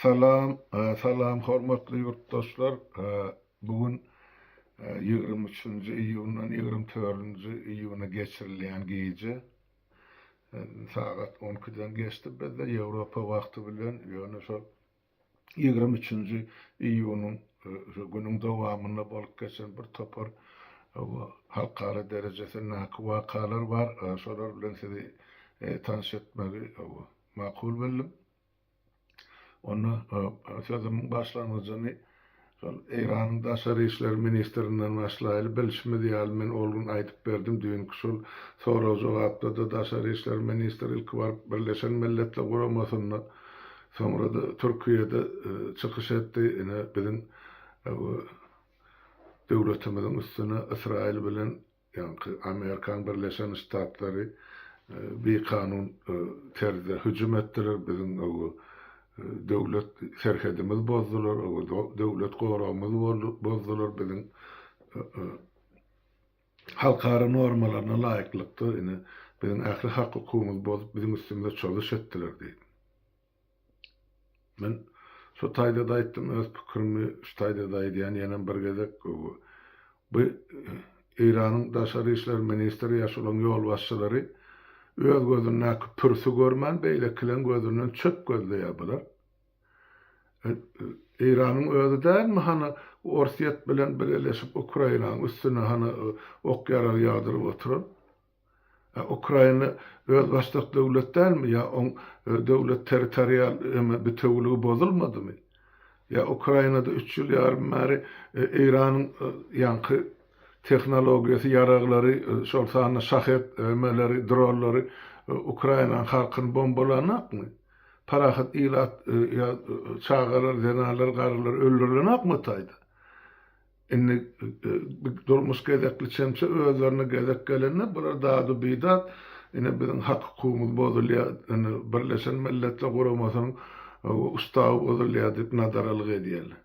Salam, salam hormatly ýurtdaşlar. Bu gün ýigrimi üçünji iýundan ýigrimi törünji iýuna geçirilýän gije sagat on ikiden geçdi bizde Ýewropa wagty bilen, ýöne şol Ýigrimi üçünji iýunyň şu günüň dowamynda bolup geçen bir topar halkara derejesindaky wakalar bar. Şolar bilen sizi tanyş etmegi makul bildim. Onda sözümiň başlangyjyny Şol Eýranyň daşary işler ministrinden başlaýly, bilşimiz ýaly, men ol gün aýdyp berdim, düýnki şol sorag-jogapda-da daşary işler ministri ilki baryp Birleşen Milletler Guramasynda, soňra-da Türkiýede çykyş etdi, ine biziň bu döwletimiziň üstüne Ysraýyl bilen Ýaňky Amerikan Birleşen Ştatlary bikanun terzde hüjüm etdiler, biziň owo döwlet serhedimiz bozdular, owo döwlet goragymyz bozdular, biziň halkara normalaryna laýyklykda ine biziň ähli hak-hukugymyz bozup biziň üstümize çozuş etdiler diýip. Men şu taýda-da aýtdym, öz pikirimi şu taýda-da aýdýan, ýenem bir gezek. Bu Eýranyň daşary işler ministri ýa şolaň ýolbaşçylary öz gözündäki pürsi görmän, beýlekileň gözünden çöp gözleýär bular. Eýranyň özi dälmi hany Orsýet bilen bileleşip Ukrainaň üstüne hany ok-ýarag ýagdyryp oturan? A Ukraina özbaşdak döwlet dälmi? Ýa oň döwlet territorial eme bitewiligi bozulmadymy? Ýa Ukrainada üç ýyl ýarym bäri Eýranyň ýaňky tehnologiýasy ýaraglary, şol sanda şahed emeleri, dronlary Ukrainanyň halkyny bombalanakmy? Parahat ilat ýa çagalar, zenanlar, garrylar öldürilenakmy o taýda? Indi durmuş gezekli çemçe özlerine gezek gelende bular dadu-bidat, ine biziň hak-hukukumyz bozulýar, indi Birleşen Milletler Guramasynyň ustawy bozulýar diýip nadaralyk edýärler.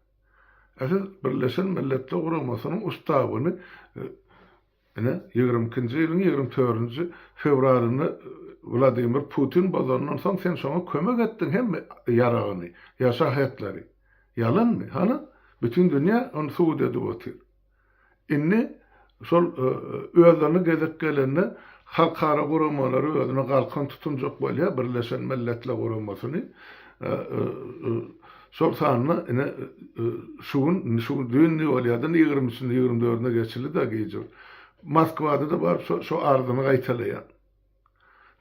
Ä siz Birleşen Milletler Guramasynyň ustawyny Ine, ýigrimi ikinji ýylyň ýigrimi törünji fewralynda Wladimir Putin bozandan soň sen şoňa kömek etdiň hemme ýaragyny, ýa şahetleri. Ýalanmy? Hany? Bütin dünýä ony subut edip otyr. Indi şol özlerine gezek gelende halkara guramalary özüne galkan tutunjak bolýar, Birleşen Milletler Guramasyny, Şol sanda ine, şu gün, indi şu gün düýnli bolýar-da, ýigrimi üçünde, ýigrimi dördünde geçildi-de gijur. Moskwada-da baryp şo, şo arzyny gaýtalaýar.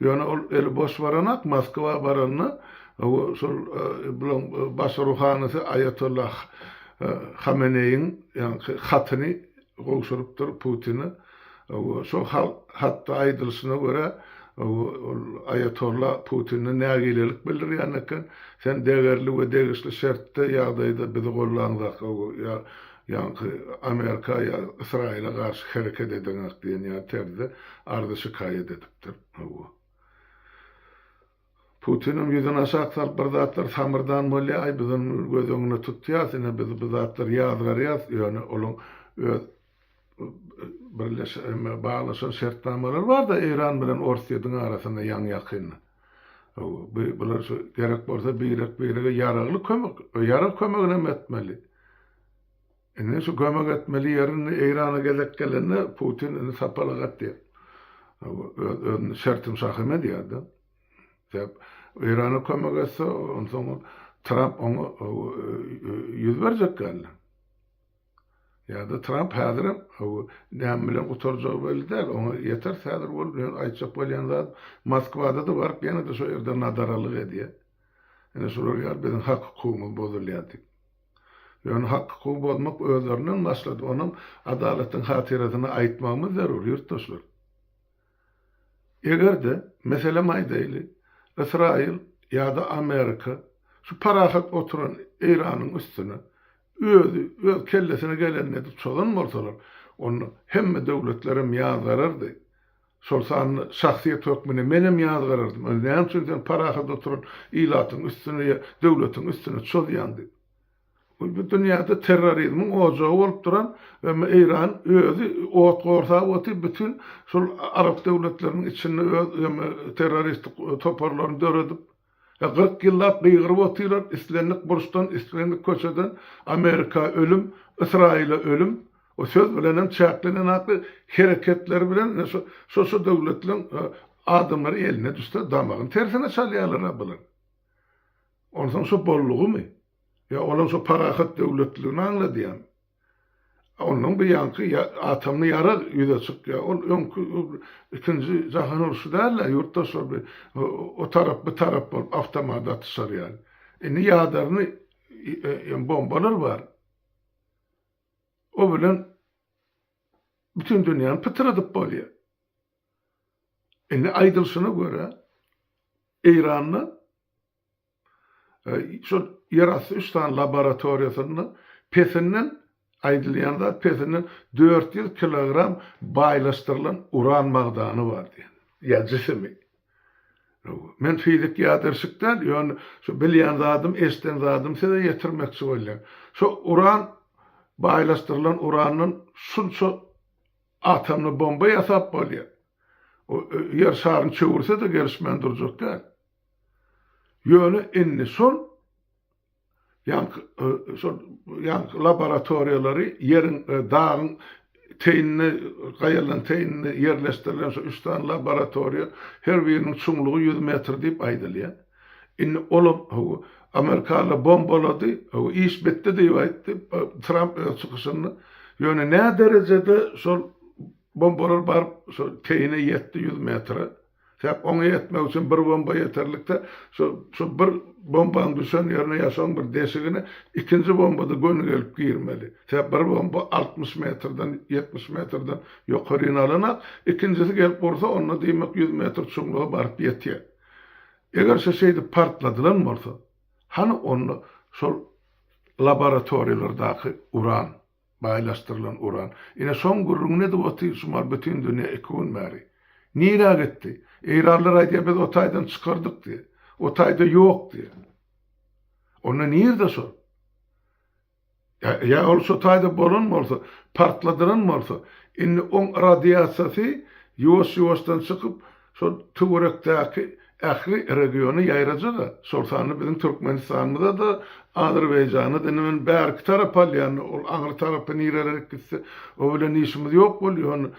Ýöne ol eli boş baranak, Moskwa baranda, hawa, şol bulaň baş ruhanysy Aýatolla Hameneýiň ýaňky hatyny, gowşurypdyr Putini. Şol hatda aýdylyşyna görä, ol aýatolla Putine nägilelik bildirýän eken, Sen degerli we degişli şertde, ýagdaýda bizi gollanzak, ýaňky Amerika ýa Ysraýyla garşy hereket edeňak diýen ýaly terzde arza-şikaýat edipdir. Putiniň ýüzüni aşak salyp bir zatlar samyrdan bolýa, aý biz ony göz öňüne tutýas, ine biz bu zatlary ýazgarýas, ýöne olaň öz birleşen baglaşan şertnamalary barda Eýran bilen Orsyýediň arasynda ýaňy ýakynda. Hawa bular şu gerek bolsa birek birege ýaragly kömek, ýarag kömeginem etmeli. Indi şu kömek etmeli ýerini Eýrana gezek gelende Putin indi sapalak atýar. Öz özüni şertim şahym edýärdi. Sebäp Eýrana kömek etse, onsoň Tramp oňa ýüz berjek geldi. Ýa-da Tramp häzirem näme bilen gutarjagy belli däl. Oňa ýeter häzir bolup ýöne aýtjak bolýan zat Moskwada-da baryp ýene-de şo ýerde nadaralyk edýär. Ine şular ýaly biziň hak-hukugymyz bozulýar diýip. Ýöne hak hukugy bozmak özlerinden başlady, onam adalatyň hatyrasyna aýtmagymyz zerur, ýurtdaşlar. Egerde, meselem aýdaýly, Ysraýyl ýa-da Amerika şu parahat oturan Eýranyň üstüne özi öz kellesine geleni edip çozan bolsalar, onda hemme döwletlerem ýazgarardy, Şol sanda şahsyýet hökmünde menem ýazgarardym, Özi näme üçin sen parahat oturan ilatyň üstüne ýa döwletiň üstüne çozýaň diýip. Bu bu dünýäde terrorizmiň ojagy bolup duran we Eýran özi ot gorsap otyp bütin şol arap döwletleriniň içinde öz terroristik toparlaryny döredip, He kyrk ýyllap gygyryp otyrar islendik burçdan islendik köçeden Amerika ölüm Ysraýyla ölüm o söz bilenem çäklenen akly hereketleri bilen ine şu şo şo döwletleriň adamlary eline düşse damagyny tersine çalýarlara bular. Onsoň şo boldugymy? Ýa olam şo parahat döwletligini aňladýamy? Ondan bir ýanky atomly ýarag ýüze çykýar. Ol öňki ikinji jahan urşy däl-de, ýurtdaşlar bir o tarap bu tarap bolup awtomat atyşar ýaly. Indi ýadarny ýa bombalar bar. O bilen bütin dünýäni pytradyp bolýar. Indi aýdylşyna görä Eýranda Şol ýerasty üç sany laboratoriýasynda pesinden, aýdylýan zat, pesinden dört ýüz kilogram baýlaşdyrylan uran magdany bar diýen. Ýa jisimi. Men fizik ýadyrşyk däl, ýöne şu bilýän zadym, eşden zadym size ýetirmekçi bolýan. Şu uran, baýlaşdyrylan urandan şunça atomly bomba ýasap bolýar. O Ýer şaryny çöwürse-de gelişmän durjak däl. Ýöne indi şol ýaňky laboratoriýalary ýeriň, dagyň teýinde, gaýalaryň teýinde ýerleşdirilen şu üç sany laboratoriýa, her biriniň çuňlugy ýüz metr diýip aýdylýar. Indi olam, hawa, amerikalylar bombalady, hawa, iş bitdi diýip aýtdy Tramp öz çykyşynda. Ýöne nä derejede şol bombalar baryp, şol teýine ýetdi, ýüz metre? Sebäp oňa ýetmek üçin bir bomba ýeterlikde, şu şu bir bombanyň düşen ýerine ýa şoň bir deşigine ikinji bombada göni gelip girmeli. Sebäp bir bomba altmyş metrden, ýetmiş metrden ýokaryny alanak, ikinjisi gelip ursa onda diýmek ýüz metr çuňluga baryp ýetýär. Eger şu şeýdip partladylan bolsa, hany onda şol laboratoriýalardaky uran? Baýlaşdyrylan uran. Ine şoň gürrüňini edip otyr şumal bütin dünýä iki gün bäri. Nirä gitdi? Eýranlar aýdýar biz o taýdan çykardyk diýe. O taýda ýok diýe. Onda nirde şol? Ýa ýa ol şo taýda bolan bolsa, partladylan bolsa, indi oň radiasiýasy ýuwaş-ýuwaşdan çykyp, Şol töwerekdäki ähli regiona ýaýraja-da, şol sanda biziň Türkmenistanymyza-da, Azerbaýjana-da, indi men bärki tarap alýan, ol aňry tarapy nirelerek gitse, o bilen işimiz ýok bolýar, ony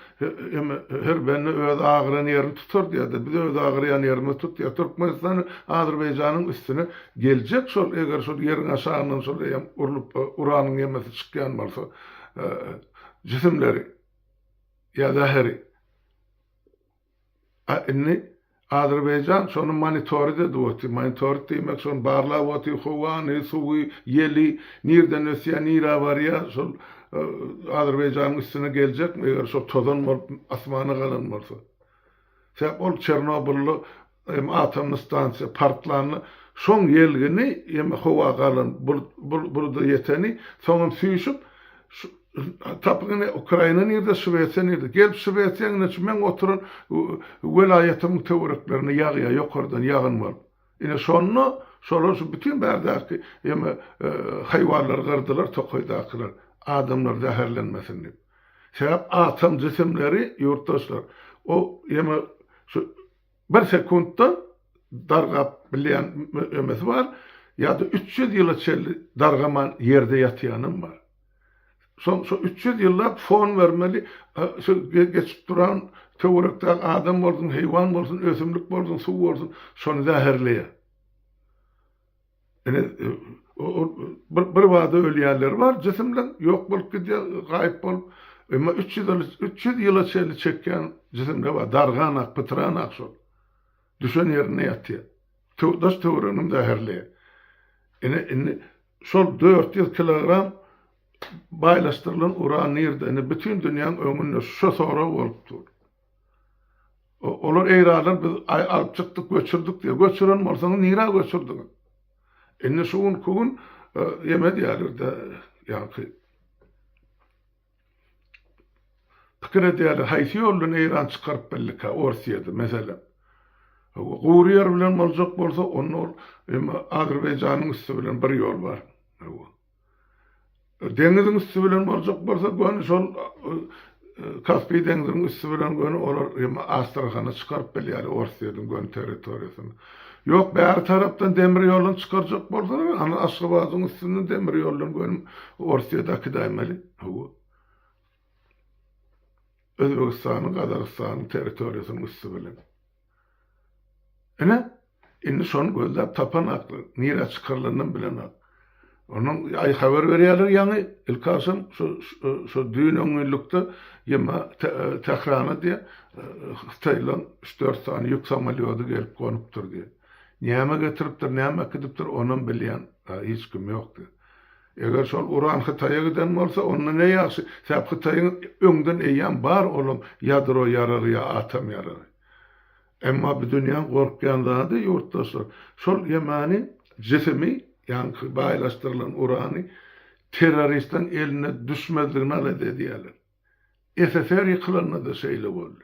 hem her bende öz agyran ýerini tutar diýýär-de, biz öz agyrýan ýerimizi tutýas, Türkmenistan Azerbaýjanyň üstüne geljek şol, eger şol ýeriň aşagyndan şol eýýäm urlup, uranyň ýemesi çykýan bolsa, jisimleri ýa zäheri. A indi Azerbaýjan şony monitorid edip otyr. Monitorid diýmek şony barlap otyr, howany, suwy, ýeli, nirden ösýär, nirä barýar, şol Azerbaýjanyň üstüne geljekmi eger şol tozan bolup asmana galan bolsa. Sebäp ol Çernobylda Hem atomly stansiýa partlanda şoň ýelgini ýeme howa galan buluda ýeteni soňam süýşüp tapyň ine ukraina nirde şwesiýa nirde gelip şwesiýa ine şu meň oturan welaýatymyň töwereklerine ýagýa ýokardan ýagyn bolup ine şonda şolar şu bütin bärdäki ýeme haýwanlary gyrdylar tokaýdakylar adamlar zäherlenmesin dip sebäp atom jisimleri ýurtdaşlar o ýeme şu Bir sekuntda dargap bilýän ömesi bar, ýa-da üç ýüz ýyla çenli dargaman ýerde ýatýanam bar. Soň şo üç ýüz ýyllap fon bermeli, şo geçip duran töwerekdäki adam bolsun, heýwan bolsun, ösümlik bolsun, suw bolsun, şony zäherleýär. Ine, bir bada ölýänleri bar, jisim bilen ýok bolup gidýär, gaýyp bolup. Emma üç ýüz ýyl, üç ýüz ýyla çenli çekýän jisimde bar, dargan ak, pytran ak şol. Düşen ýerinde ýatýar. Daş-töwereginiň zäherli. Ine, indi şol dört ýüz kilogram baýlaşdyrylan uran nirde? Indi bütin dünýäň öňünde şo sorag bolup dur. Olar eýranlar biz alyp çykdyk, göçürdik diýýär. Göçüren bolsaňyz nirä göçürdiňiz? Indi şu günki gün ýeme diýýärler-de, ýaňky pikir edýärler, haýsy ýol bilen Eýran çykaryp bildikä Orsýedi, meselem. Gury ýer bilen boljak bolsa, onda ol Azerbaýjanyň üsti bilen bir ýol bar. Deňiziň üsti bilen boljak bolsa göni şol Kaspi deňziniň üsti bilen göni olar hem Astrahana çykaryp bilýärler Orsýetiň göni territoriýasyny. Ýok bäri tarapdan demir ýoldan çykarjak bolsalar Aşgabadyň üstünden demir ýoldan göni Orsýete akidaýmaly. Hawa. Özbegistanyň, Gazagystanyň territoriýasynyň üsti bilen. Ine, indi şony gözläp tapanaklar, nirä çykarylanynam bilenok. Onuň aý habar berýärler ýaňy, ilkagşam şu şu düýn on günlükde ýa-ma Tährana diýýä, hytaýlaryň üç-dört sany ýük samolýody gelip gonupdyr diýýä. Näme getiripdir, näme äkidipdir, onam bilýän hiç kim ýok diýýä. Eger şol uran Hytaýa giden bolsa, onda ne ýagşy, sebäp Hytaýyň öňden eýýäm bar olam ýadro ýaragy ýa atom ýaragy. Emma bu dünýäň gorkýan zady, ýurtdaşlar, şol ýemany jisimi, ýaňky baýlaşdyrylan urany terroristiň eline düşmezligini alada edýärler. SSR ýykylanda-da şeýle boldy.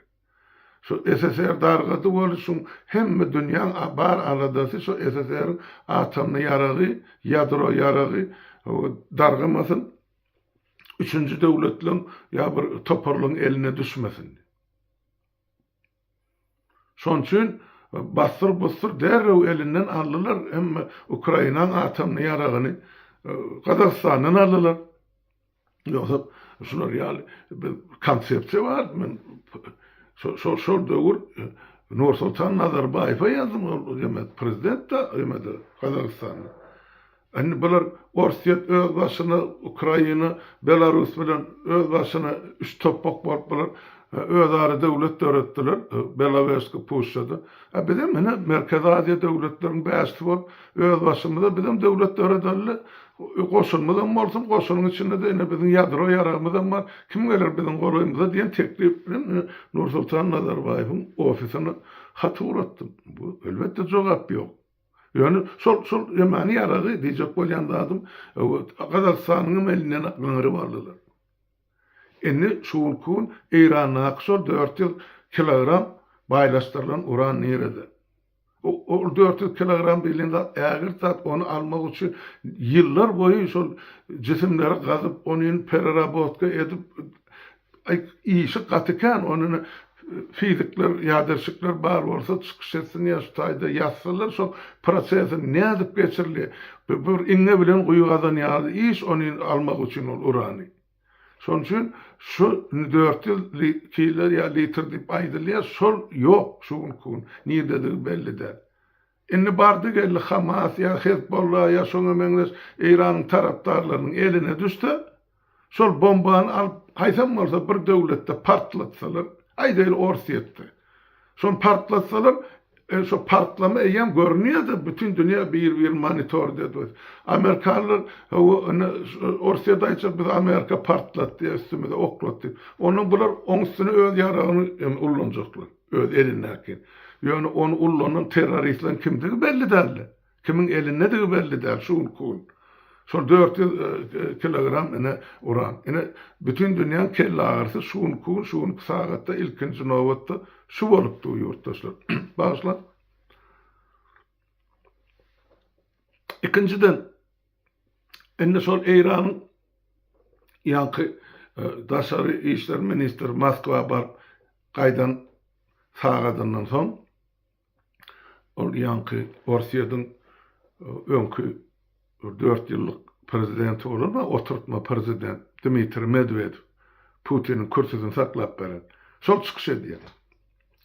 Şu SSR dargasy boluşyň hemme dünýäň bar aladasy şu SSR-iň atomny ýaragy, ýadro ýaragy dargamasyn, üçünji döwletleň ýa bir toparlaryň eline düşmesin. Şoň üçin bassyr-bussyr derrew elinden aldylar hemme Ukrainaň atomny ýaragyny Gazagystandan aldylar. Ýogsam şular ýaly bir konsepsiýa bar. Men şol şol döwür Nursultan Nazarbaýewe ýazdym, ol demek prezident da ýa-da Gazagystanda. Indi bular Orsýet öz başyna, Ukraina, Belarus bilen öz başyna üç topbak bolup bular özara döwlet döretdiler Belowežsky puşşada. A bizem ine Merkezi Aziýa döwletleriň bäşisi bolup öz başymyza bizem döwlet döredeli. Goşunymyzam bolsun, goşunyň içinde-de ine biziň ýadro ýaragymyzam bar, kim geler biziň golaýymyza diýen teklip bilen men Nursultan Nazarbaýewiň ofisine hat ugratdym. Bu, elbetde, jogap ýok. Ýöne şol, şol ýamany ýaragy diýjek bolýan zadym, Gazagystanyňam elinden gyňryp aldylar. Indi şu günki gün Eýrandaky şol dört ýüz kilogram baýlaşdyrylan uran nirede? Ol dört ýüz kilogram diýlen zat ägirt zat, ony almak üçin ýyllar boýy şol jisimleri gazyp, ony pererabotka edip, işi gaty kän, ony fizikler, ýaderşikler bar bolsa çykyş etsin ýa şu taýda ýazsynlar şoň prosesini nädip geçirilýär. Bir iňňe bilen guýy gazan ýaly iş ony almak üçin ol urany. Şonuň üçin şu indi dört ýüz kiler ýa litr diýip aýdylýar, şol ýok şu günki gün, nirdedigi belli däl. Indi bardy geldi Hamas ýa Hezbollah ýa şoňa meňzeş Eýranyň tarapdarlarynyň eline düşse, şol bombany alyp haýsam bolsa bir döwletde partlatsalar, aýdaýly Orsýetde, Şony partlatsalar, şo partlama eýýäm görünýärdi, bütin dünýä bir-birini monitord edipdi. Amerikanlar, Hawa, ine, Orsýet aýtjak, bizi Amerika partlatdy, üstümize oklatdy diýip. Onda bular oň üstüne öz ýaragyny indi ullanjaklar, öz elindäkini. Ýöne ony ullanan terroristleriň kimdigi belli däldi. Kimiň elindedigi belli däl şu günki gün. Şol dört ýüz kilogram ine uran. Ine bütin dünýäň kelleagyrysy şu günki gün, şu günki sagatda ilkinji nobatda şu bolup dur ýurtdaşlar. Bagyşlaň. Ikinjiden indi şol Eýranyň ýaňky daşary işler ministri Moskwa baryp gaýdan sagadyndan soň Ol ýaňky Orsýetiň öňki dört ýyllyk prezidenti bolan we oturtma prezident Dmitriý Medwedew Putiniň kürsüsini saklap beren. Şol çykyş edýär.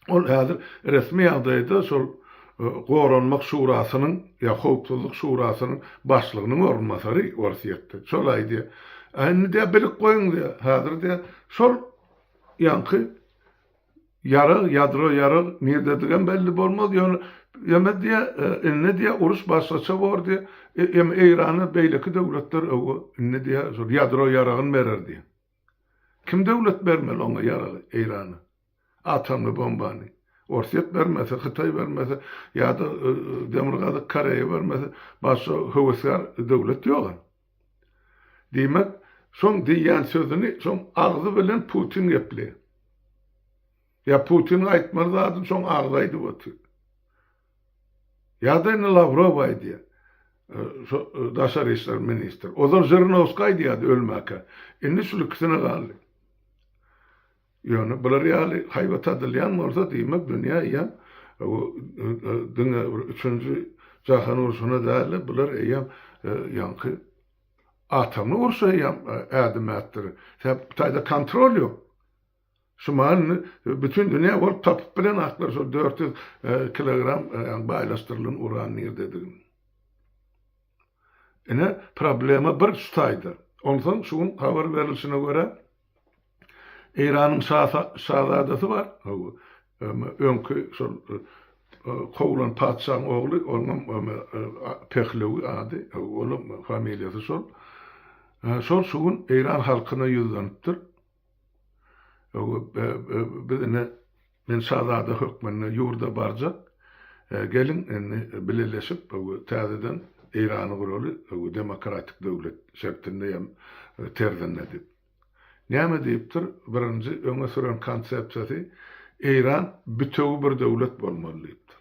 Ol häzir resmi ýagdaýda şol Goranmak şurasynyň ýa Howpsuzlyk şurasynyň başlygynyň orunbasary Orsýetde. Şol aýdýar. Indi diýýär, bilip goýuň diýýär. Häzir diýýär, şol ýaňky Ýarag, ýadro ýarag nirdedigem belli bolmaz, ýöne ýöne diýe, indi diýe uruş başgaça bor diýe, ýöne Eýrana beýleki döwletler öwgo indi diýe şol ýadro ýaragyny berer diýe. Kim döwlet bermeli oňa ýaragy Eýrana? Atomly bombany? Orsýet bermese, Hytaý bermese ýa-da Demirgazyk Koreýa bermese, başga höwesgär döwlet ýog-a. Diýmek, şoň diýýän sözüni şoň agzy bilen Putin gepleýär. Ýa Putiniň aýtmaly zadyny şoň agzy aýdyp otyr. Ýa-da indi Lawrow aýdýar. Şo daşary işler ministri. Ozal Žirnowskiý aýdýardy ölmäkä. Indi şul ikisine galdy. Ýöne bular ýaly haýbat adylýan bolsa diýmek dünýä eýýäm diňe bir üçünji jahan urşuna dälde bular eýýäm ýaňky atomly urşa eýýäm ädim ätdirir. Sebäp bu taýda kontrol ýok. Şumaň indi bütin dünýä bolup tapyp bilen aklar şol dört ýüz kilogram baýlaşdyrylan uran nirdedigini. Ine problema bir şu taýda. Onsoň şu gün habar berilişine görä, Eýranyň şazadasy bar, öňki şol kowlan patyşaň ogly, onuňam Pehlewi ady, onuň familiýasy şol. Şol şu gün Eýran halkyna ýüzlenipdir. Biz ine Men şazada hökmünde ýurda barjak. Geliň, indi bileleşip täzeden Eýrany guraly, demokratik döwlet şertinde ýa terzinde diýip. Näme diýipdir? Birinji öňe süren konsepsiýasy Eýran bütewi bir döwlet bolmaly diýipdir.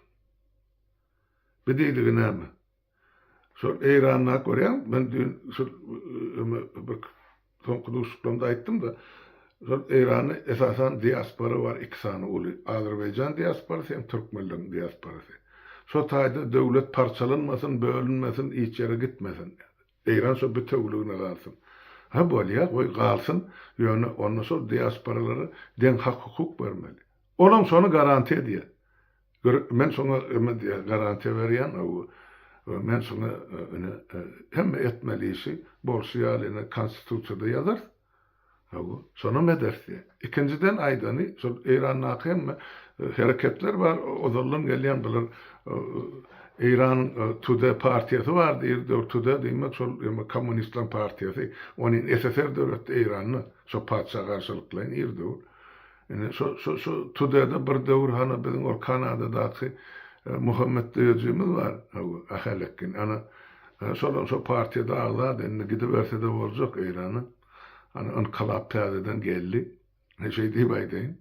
Bi diýdigi näme? Şol Eýranda görýän, men düýn şol bir soňky duşuşyklarymda aýtdym-da, şol Eýranda esasan diaspora bar iki sany uly, Azerbaýjan diasporasy hem türkmenleriň diasporasy. Şo taýda döwlet parçalanmasyn, bölünmesin, hiç ýere gitmesin. Eýran şo bitewüligine galsyn. Hä bolýa, goý galsyn, ýöne onda şol diasporalara deň hak-hukuk bermeli. Olam şony garantiýa edýär. Bir men şoňa öme diýýän, garantiýa berýän, men şoňa ine hemme etmeli işi bolşy ýaly ine konstitusiýada ýazarys. Hawa, şonam ederis diýýär. Ikinjiden aýdany, şol Eýrandaky hemme hereketler bar, ozaldan gelýän bular Eýranyň Tude partiýasy bar diýip dur, Tude diýmek şol ýa-da kommunistleriň partiýasy, ony ssr döretdi Eýranda, şo patyşa garşylyklaýyn ir dur. Indi şo şo şo Tudede bir döwür hany biziň ol Kanadadaky Muhammet döýejimiz bar, hawa, Ahalekgin. Ana, şolam şo partiýada agzady, indi gidibersede boljak Eýrana. Ana, ynkylap täzeden geldi. He, şeý diýip aýdaýyn.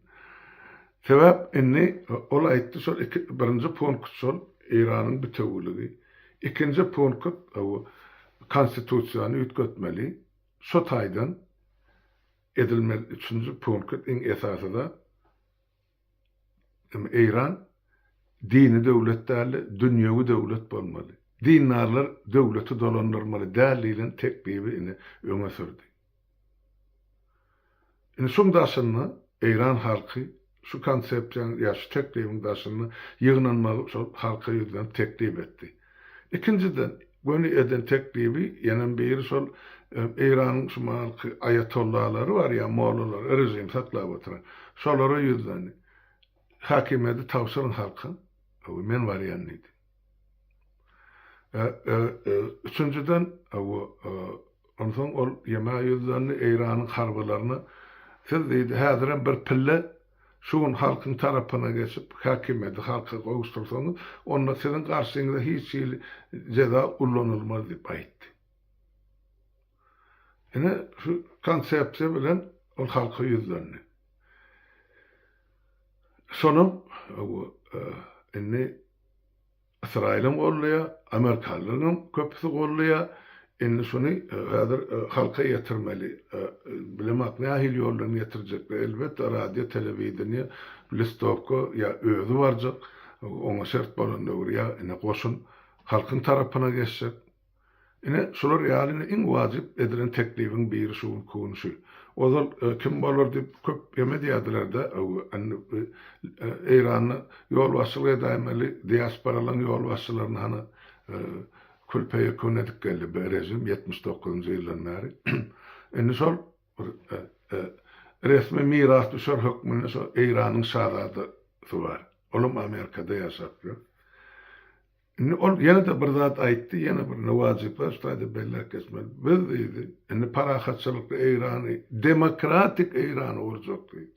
Sebäp indi ol aýtdy, şol iki, birinji punkt şol, Eýranyň bitewüligi. Ikinji punkt, hawa, Konstitusiýany üýtgetmeli. Şo taýdan. edilmeli üçünji punkt iň esasy zat hem Eýran dini döwlet däldi dünýewi döwlet bolmaly dindarlar döwleti dolandyrmaly däl diýlen teklibi indi öňe sürdi indi şuň daşynda Eýran halky Şu konsepsiýanyň ýa şu teklibiň daşynda ýygnanmagy şol halka ýüzlenip teklip etdi. Ikinjiden, göni eden teklibi ýenem biri şol Eýranyň şu mahalky aýatollalary bar ýa mollalary, režimi saklap oturan. Şolara ýüzlendi. Häkimiýeti tabşyryň halka, men barýan diýdi. Üçünjiden, onsoň ol Ýemä ýüzlendi, Eýranyň harbylaryna, Siz, diýdi, häzirem bir pille şu gün halkyň tarapyna geçip, häkimiýeti halka gowuşdyrsaňyz, onda siziň garşyňyza hiç hili jeza ullanylmaz diýip aýtdy. Ine, şu konsepsiýa bilen ol halka ýüzlendi. Şonuň indi Ysraýylam goldaýar, amerikalylaryň köpüsi goldaýar. Indi şuny häzir halka ýetirmeli. Bilemak nähili ýoldan ýetirjekler. Elbetde radio, telewideniýe, listowka ýa özi barjak. Oňa şert bolan döwür ýa indi goşun halkyň tarapyna geçjek. Ine, şular ýaly iň wajyp edilen teklibiň biri şu gün kunşy. Ozal kim bolar diýip köp ýem edýärdiler-de, indi Eýranda ýolbaşçylyk edäýen weli diasporalaryň ýolbaşçylaryny hany kürpe ýekun edip geldi bir režim ýetmiş dokuzynjy ýyldan bäri. Indi şol bir resmi mirasdüşer hökmünde şo Eýranyň şazadasy bar. Olam Amerikada ýaşap ýör. Indi ol ýene-de bir zat aýtdy, ýene bir wajyplar şu taýda belläp geçmeli. Biz diýdi, indi parahatçylykly Eýrany, demokratik Eýrany gurjak diýdi.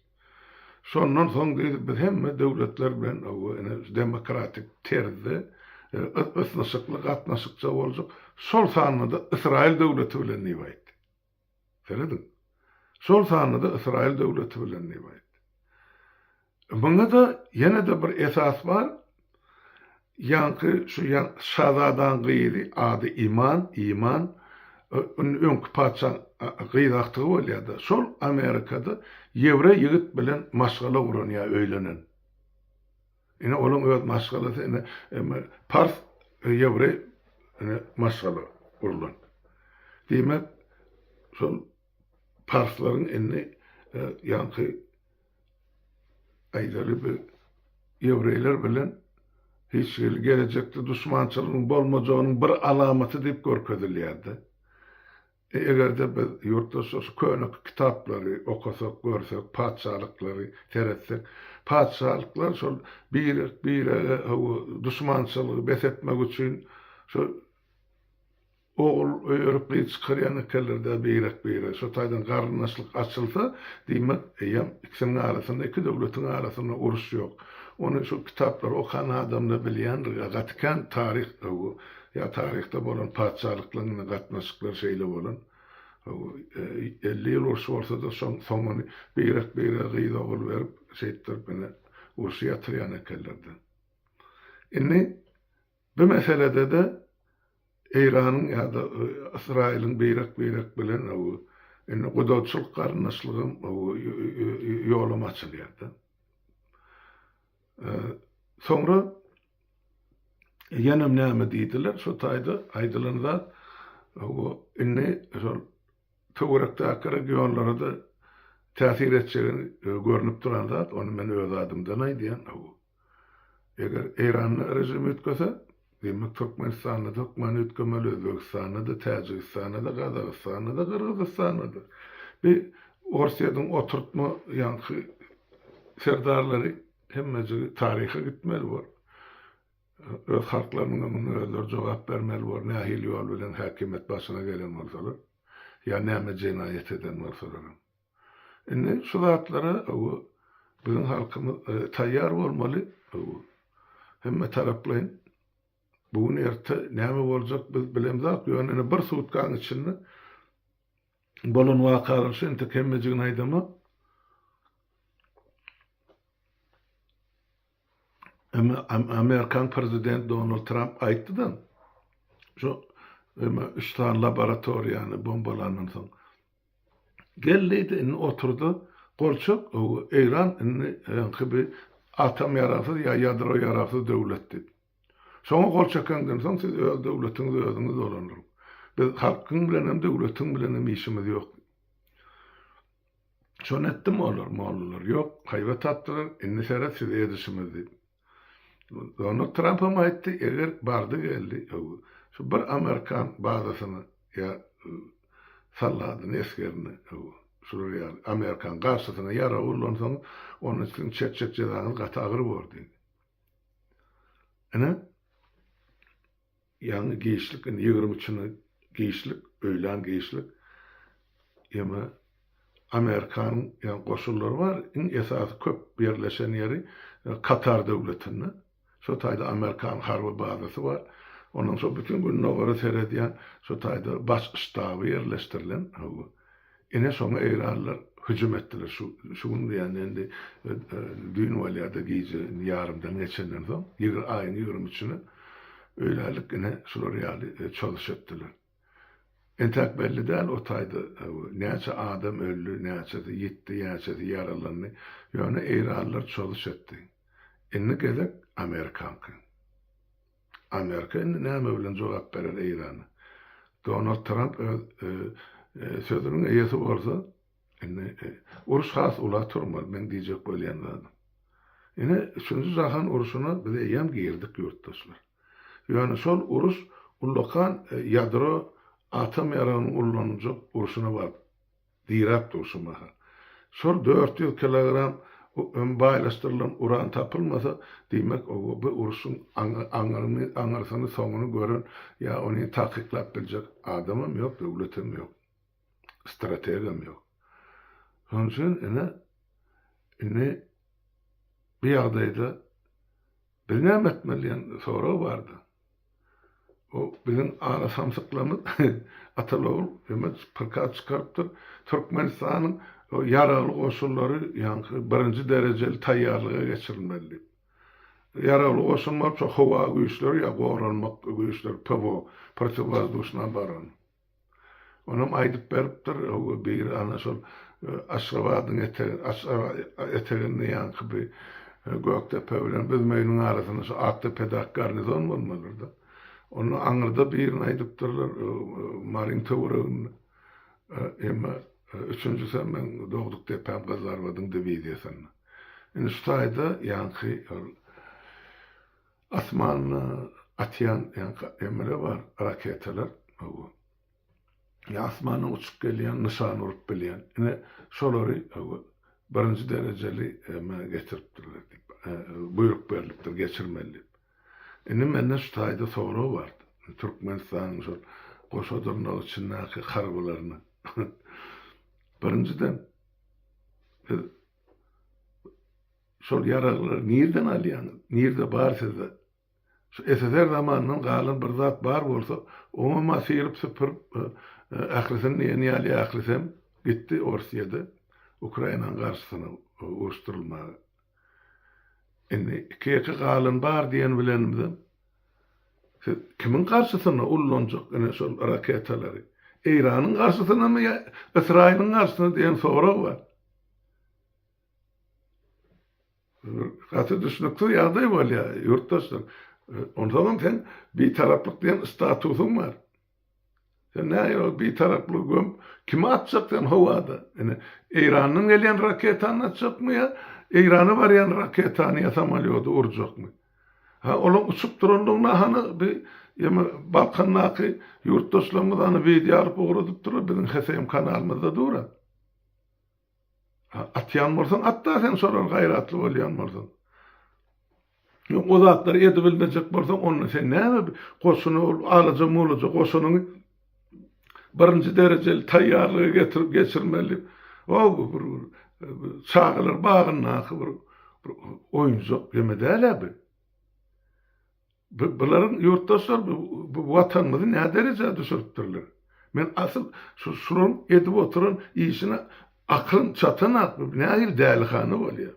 Şondan soň diýdi, biz hemme döwletler bilen hawa ine şu demokratik terzde ysnyşykly gatnaşykça boljak, şol sanda-da Ysraýyl döwleti bilen diýip aýtdy. Serediň. Şol sanda-da Ysraýyl döwleti bilen diýip aýtdy. Muňa-da ýene-de bir esas bar, ýaňky şu şazadaň gyzy, ady Iman, Iman, öňki patyşaň gyz agtygy bolýar-da, şol Amerikada ýewreý ýigit bilen maşgala guran ýa öýlenen. Ine olaň öz maşgalasy ine emma pars ýewreý ine maşgala gurlan. Diýmek şol parslaryň indi ýaňky aýdaly bir ýewreýler bilen hiç hili gelejekde duşmançylygyň bolmajagynyň bir alamaty diýip görkezilýärdi. Eger-de biz ýurtdaşlar şu köne kitaplary okasak, görsek, patyşalyklary seretsek, patyşalyklar şol birek-birege hawa duşmançylygy bes etmek üçin şol ogul öýerip gyz çykarýan ekenler-dä birek-birege. Şo taýdan garyndaşlyk açylsa, diýmek, eýýäm ikisiniň arasynda, iki döwletiň arasynda uruş ýok. Ony şu kitaplary okan adam-da bilýändir, gaty kän taryh hawa Ýa taryhda bolan patyşalyklar bilen gatnaşyklar şeýle bolan. Elli ýyl uruş bolsa-da, şoň soňuny beýrek-beýrege gyz-ogul berip, şeýtdirip ine, urşy ýatyrýan ekenler-de. Indi bu meselede-de Eýranyň ýa-da Ysraýylyň beýrek-beýrek bilen indi gudaçylyk-garyndaşlygam ýolam açylýar-da. Soňra ýene näme diýdiler, şo taýda aýdylan zat, bu indi şol töwerekdäki regionlara-da täsir etjegi görnüp duran zat, ony men öz adymdan aýdýan, eger Eýran rejimi üýtgese, Diýmek Türkmenistanda-da hökman üýtgemeli, Özbegistanda-da, Täjigistanda-da, Gazagystanda-da, Gyrgyzystanda-da. Bi Orsýetiň oturtma ýaňky serdarlary hemmejigi taryha gitmeli bor. Öz halklarynyňam muňa özleri jogap bermeli bor, nähili ýol bilen häkimiýet başyna gelen bolsalar, ýa näme jenaýat eden bolsalaram. Indi şu zatlara biziň halkymyz taýýar bolmaly. Hemme taraplaýyn bu gün erte näme boljak biz bilemzok. Ýöne indi bir sutkanyň içinde bolan wakalar şu entek hemmejigini aýdamok. Amerikan prezidenti Donald Tramp aýtdy-da, şu üç sany laboratoriýany bombalandan soň, Gel diýdi, indi otur-da, gol çek, Eýran indi öňki bir atom ýaragsyz ýa ýadro ýaragsyz döwlet diýip. Şoňa gol çekeňden soň, siz öz döwletiňizi özüňiz dolandyryň. Biz halkyň bilen hem, döwletiň bilen hem işimiz ýok. Şony etdim olar, mollalar. Ýok, haýbat atdylar, indi seret size edişimiz diýip. Donald Tramp hem aýtdy, eger bardy geldi, şu bir amerikan bazasyny ýa soldadyny, esgerini, şular ýaly amerikan garşysyna ýarag ullansaňyz, onda siziň çekjek jezaňyz gaty agyr bor diýdi. Ine, Ýaňy giçlik indi ýigrimi üçine giçlik öýlän giçlik ýeme Amerikanyň ýaňy goşunlary bar iň esasy köp ýerleşen ýeri Katar döwletinde şo taýda Amerikan harby bazasy bar ondan soň bütin gündogara seredýän şo taýda baş ştaby ýerleşdirilen howwa. Ine şoňa eýranlylar hüjüm etdiler. Şu şu gün diýende indi düýn bolýar-da gije indi ýarymdan geçenden soň ýigrimi aýyň ýigrimi üçüne öýlänlik ine şular ýaly çozuşy etdiler. Entäk belli däl o taýda näçe adam öldi, näçesi ýitdi, näçesi ýaralandy. Ýöne eýranlylar çozuş etdi. Indi gezek amerikanky. Amerika indi näme bilen jogap berer Eýrana? Donald Tramp öz sözüniň eýesi bolsa, indi uruş has ula turmaz, meň diýjek bolýan zadym. Ine, üçünji jahan uruşyna biz eýýäm girdik, ýurtdaşlar. Ýöne şol uruş ullakan ýadro atom ýaragynyň ullanyljak urşuna baryp Diýräp dur şu mahal. Şol dört ýüz kilogram öm baýlaşdyrylan uran tapylmasa, diýmek, o bu urşuň aňyryny, aňyrsyny, soňuny gören ýa ony takyklap biljek adamam ýok, döwletem ýok. Strategam ýok. Şonuň üçin, ine, indi bu ýagdaýda, Biz näme etmeli diýen sorag bardy. O biziň ala samsyklarymyz Atalogul Ömet prikaz çykarypdyr. Türkmenistanyň ýaragly goşunlary ýaňky birinji derejeli taýýarlyga geçirilmeli diýip. Ýaragly goşun bolupsa howa güýçleri ýa goranmak güýçleri PVO, protiwwozduşna obarona. Onam aýdyp beripdir, ow biri ana şol Aşgabadyň etegi, Aşgabat eteginde ýaňky bir Gökdepe bilen Büzmeýiniň arasynda şu Akdepedaky garnizon bolmalydyr-da. Onda aňyrda birini aýdypdyrlar, Maryň töwereginde. Emma üçünjisem meň dogduk depäm Gyzlarbadyň diwiziýasynda. Indi şu taýda ýaňky ol. Asmanda atýan ýaňky emele bar raketalar hawa. Ýa asmandan uçup gelýän nyşan urup bilýän. Ine şolary hawa birinji derejeli emä getiripdirler diýip buýruk berlipdir geçirmeli diýip. Indi mende şu taýda sorag bar. Türkmenistanyň şol goşa dyrnak içindäki harbylaryna birinjiden biz Şol ýaraglary nirden alýaňyz? Nirde bar sizde? Şu SSR zamanyndan galan bir zat bar bolsa, oňam-a syryp-süpürip, ahyrysyn diýen ýaly ahyrysem gitdi Orsýede Ukrainanyň garşysyna uruşdyrylmaga. Indi iki-ýeke galan bar diýen bilenimizem, siz kimiň garşysyna ullanjak ine şol raketalary? Eýranyň garşysynamy ýa Ysraýylyň garşysyna diýen sorag bar. Gaty düşnüksiz ýagdaý bolýar, ýurtdaşlar. Onsoňam sen bitaraplyk diýen statusyň bar. Sen näge ol bitaraplygy göm, kimi atjak sen howada? Ine, Eýrandan gelýän raketany atjakmy ýa Eýrana barýan raketany ýa samolýody urjakmy? Ha, olaň uçup duranlygyna hany bi ýa-me Balkandaky ýurtdaşlarymyz hany wideo alyp ugradypdyr, biziň HSM kanalymyzda dur-a. Atýan bolsaň at-da sen şolar gaýratly bolýan bolsaň. Ýok o zatlary edibilmejek bolsaň onda sen näme goşuna ol alaja-mulaja goşunyňy birinji derejeli taýýarlyga getirip geçirmeli. O bir çagalar bagyndaky bir oýunjak ýeme däl-ä bu. Bularyň ýurtdaşlar bu watanymyzy näderejä düşüripdirler. Men asyl şu şularyň edip oturan işine aklym çatanok bu nähili dälihana bolýa.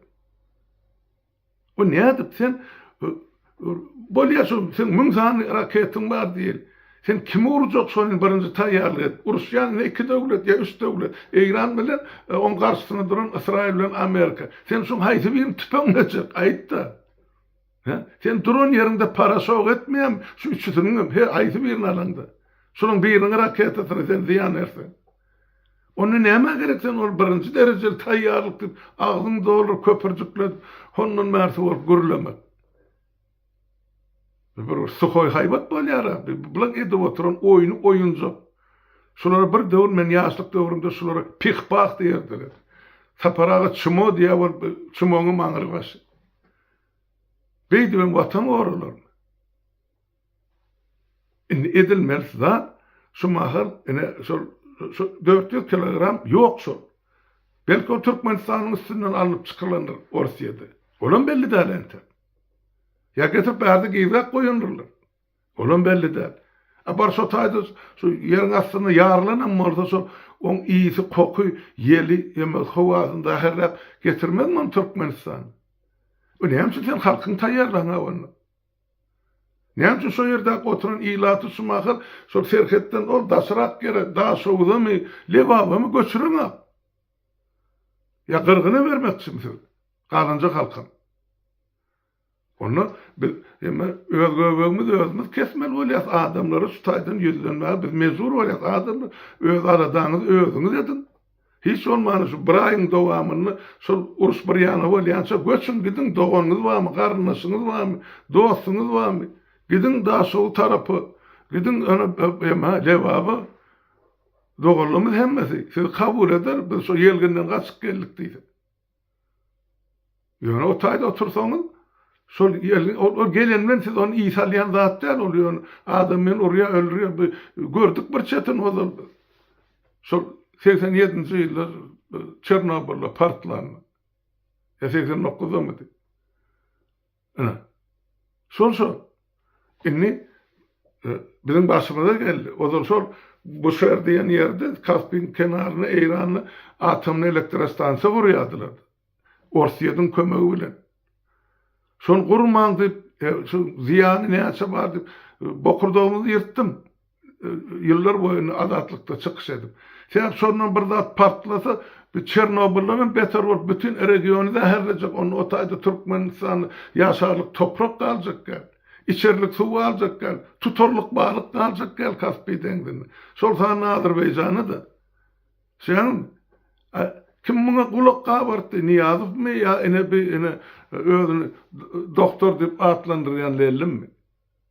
Bu nädip sen bolýa şu seň müň sany raketyň bar diýeli. Sen kimi urjak şony birinji taýýarlyk edip uruşýan ýa iki döwlet ýa üç döwlet Eýran bilen oň garşysyna duran Ysraýyl bilen Amerika. Sen şuň haýsy birini tüpeňlejek aýtda. Hä? Sen duran ýeriňde paraşok etmeýärmi? Şu üçüsiniňem, her haýsy birini alaňda. Şolaryň biriniň raketasyna sen zyýan berseň. Onda nämä gerek sen ol birinji derejeli taýýarlyk diýip, agzyňy dolduryp, köpürjikledip, hondan bärsi bolup gürlemek. Bu bir suhoý haýbat bolýar-a, bu bilen edip oturan oýny oýunjak. Şulara bir döwür men ýaşlyk döwrümde şulara pih-pah diýerdiler. Sapar aga çmo diýýär bolup, çmoňam aňry başy. Beýdibem watan goralarmy? Indi edilmelisi zat şu mahal ine şol dört ýüz kilogram ýok şol. Belki ol Türkmenistanyň üstünden alnyp çykylandyr Orsyýede. Olam belli däl entek. Ýa getirip bärde gizläp goýandyrlar. Olam belli däl. A bir şo taýda şu ýeriň astynda ýarylanam bolsa şol oň ysy, koky, ýeli ýa-da howasyny zäherläp getirmezmi ony Türkmenistana? Bu näme üçin sen halkyňy taýýarlaňa onda? Näme üçin şo ýerdäki oturan ilaty şu mahal şol serhetden ol daşrak ýere, Daşoguzamy, Lebabamy göçüreňok? Ýa gyrgyna bermekçimi siz? Galanjak halkam. Onda biz hemme öz göbegimizi özümiz kesmeli bolýarys, adamlara şu taýdan ýüzlenmäge biz mejbur bolýarys. Adamlar, öz aladaňyzy özüňiz ediň. Hiç bolmanda şu bir aýyň dowamynda şol uruş bir ýana bolýança göçüň gidiň, doganyňyz barmy, garyndaşyňyz barmy, dostuňyz barmy? Gidiň Daşogu tarapa, gidiň ýöne hemmä Lebaba. Doganlarymyz hemmesi sizi kabul eder, biz şo ýelginden gaçyp geldik diýse. Ýöne o taýda otursaňyz, şol ýerli, ol, ol gelen bilen siz ony iý salýan zat däl ol, ýöne adam meni urýar, öldürýär, bi, gördük bir çetin ozal biz. Şol segsen ýedinji ýyllar Çernobylda partlan. Ýa segsen dokyzdamydy? Ine. Şol şol. Indi biziň başymyza geldi. Ozal şol Buşer diýen ýerde Kaspiň kenarynda Eýranly atomly elektrostansiýa gurýardylar. Orsýetiň kömegi bilen. Şony gurmaň diýip, şu zyýany näçe bar diýip, bokurdagymyzy ýyrtdym. ýyllar boýuna azatlykda çykyş edip. Sebäp şondan bir zat partlasa, bi Çernobyldanam beter bolup bütin regiony zäherlejek, onda o taýda Türkmenistan ýaşarlyk toprak galjak däl. Içerlik suw galjak däl. Tutarlyk balyk galjak däl Kaspiý deňzinde. Şol sanda Azerbaýjana-da. Şeýdäňizmi? A kim muňa gulak gabartdy? Nyýazowmy ýa ine bi ine özüni doktor diýip atlandyrýan Lellimmi?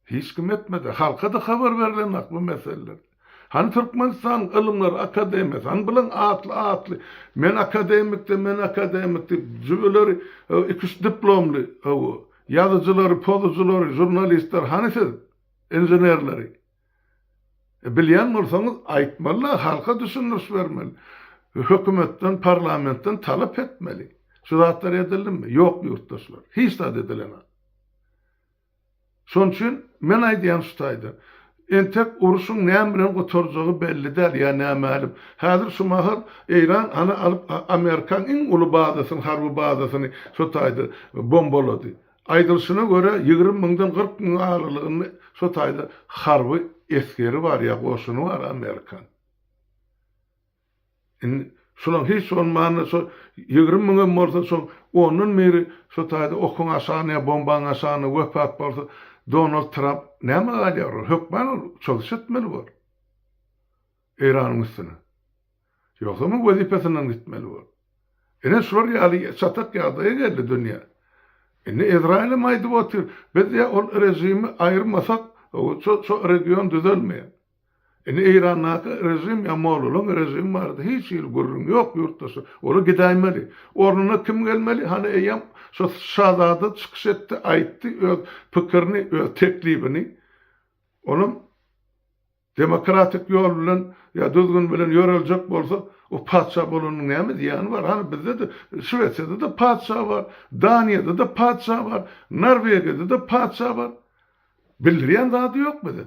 Hiç kim etmedi. Halka-da habar berilenok bu meseleler. Hany Türkmenistanyň Ylymlar akademiýasy, hany bilen atly atly, men akademik-de, men akademik diýip, jübüleri iki-üç diplomly ýazyjylary, pozujylary, žurnalistleri hany siz, inženerleri? Bilýän bolsaňyz aýtmaly-da, halka düşündiriş bermeli. Hökümetden, parlamentden talap etmeli. Şu zatlar edildimi? Ýok ýurtdaşlar. Hiç zat edilenok. Şonuň üçin men aýdýan şu taýda. Entek uruşyň näme bilen gutarjagy belli däl ýa nämälim. Häzir şu mahal Eýran ana alyp Amerikaň iň uly bazasyny, harby bazasyny şu taýda bombalady. Aýdylyşyna görä ýigrimi müňden kyrk müň aralygynda şu taýda harby esgeri bar ýa goşuny bar Amerikaň. Indi şulam hiç bolmanda şo ýigrimi müňem bolsa şoň ondan biri şo taýda okuň aşagynda ýa bombaň aşagynda wepat bolsa Donald Tramp näme galýar ol hökman ol çylyş etmeli bor Eýranyň üstüne ýogsam wezipesinden gitmeli bor ine şular ýaly çatak ýagdaýa geldi dünýä indi Izraýylem aýdyp otyr biz ýa ol režimi aýyrmasak şo region düzelmeýär. Indi Eýrandaky režim ýa mollalaň režimi barada hiç hili gürrüň ýok ýurtdaşlar. Olar gidäýmeli. Ornuna kim gelmeli? Hany eýýäm şo şazada çykyş etdi, aýtdy öz pikirini, öz teklibini. Olam demokratik ýol bilen ýa düzgün bilen ýöreljek bolsa, o patyşa bolanyň näme zyýany bar? Hany bizde-de Şwesiýada-da patyşa bar, Daniýada-da patyşa bar, Norwegiýada-da patyşa bar. Bildirýän zady ýok bize.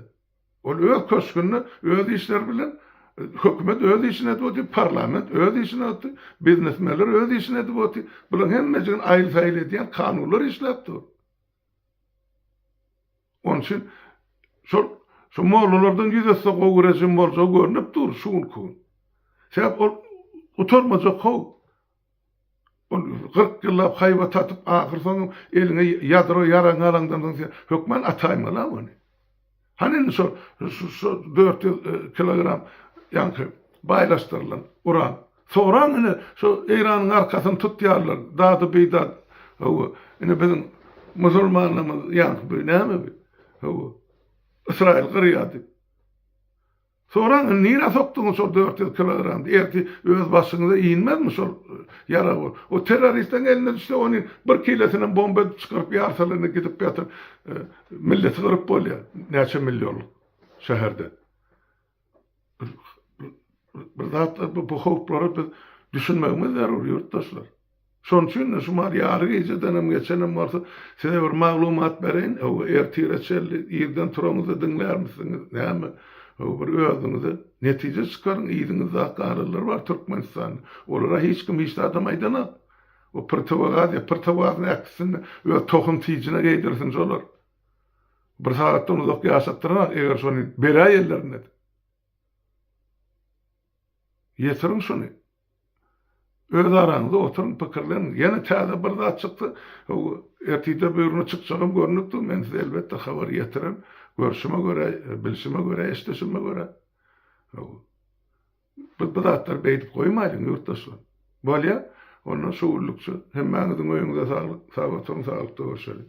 Ol öz köşgünde öz işleri bilen hökümet öz işini edip otyr, parlament öz işini otyr, biznesmenler öz işini edip otyr. Bularyň hemmejigini aýyl-saýyl edýän kanunlar işläp dur. Onuň üçin şol şu mollalardan ýüz ötse gowy režim boljagy görnüp dur şu günki gün. Sebäp ol gutarmajak how. Ol kyrk ýyllap haýbat tatyp, ahyrsoňam eliňe ýadro ýaragyňy alaňdan soň sen hökman ataýmaly-a ony. Hany indi şol şu dört ýüz kilogram ýaňky baýlaşdyrylan uran. Soraň indi şu Eýranyň arkasyny tutýarlar, dady-bidady. Hawa, indi biziň musulmanlarymyz ýaňky bu näme bu? Hawa, Ysraýyl gyrýar diýip. Soraň, indi nirä sokduňyz şol dört ýüz kilogramdy? Ertir öz başyňyza inmezmi şol ýarag bolup? O terroristleriň eline düşse, ony bir kilosynam bomba edip çykaryp ýarsalar, indi gidip ýatyp, milleti gyryp bolýar, näçe millionlyk şäherde. Bir zatlar, bu howplara biz düşünmegimiz zerur, ýurtdaşlar. Şonuň üçin-de şu maal ýary gijedenem geçenem bolsa, size bir maglumat bereýin, hawa, ertire çenli irden turaňyzda diňlärmisiňiz, näme, hawa, bir özüňize netije çykaryň, yzyňyzda garylar bar Türkmenistanda, olara hiç kim hiç zadam aýdanok, o prtowogaz ýa prtowazyň äkisinde öz tohum tijine geýdirsin şolar, bir sagatdan uzak ýaşatdyranok, eger şony beräýenlerinde. Ýetiriň şuny. Öz araňyzda oturyň, pikirleniň. Ýene täze bir zat çyksa, ertirde buýurma çykjagam görnüp dur, men size elbetde habar ýetirerin. Görşüme görä, bilşime görä, eşdişime görä, biz bu zatlary beýdip goýmaýlyň, ýurtdaşlar. Bolýa, onda şu günlükçe hemmäňiziň öýüňize saglyk, sag oturyň, saglykda görşeliň.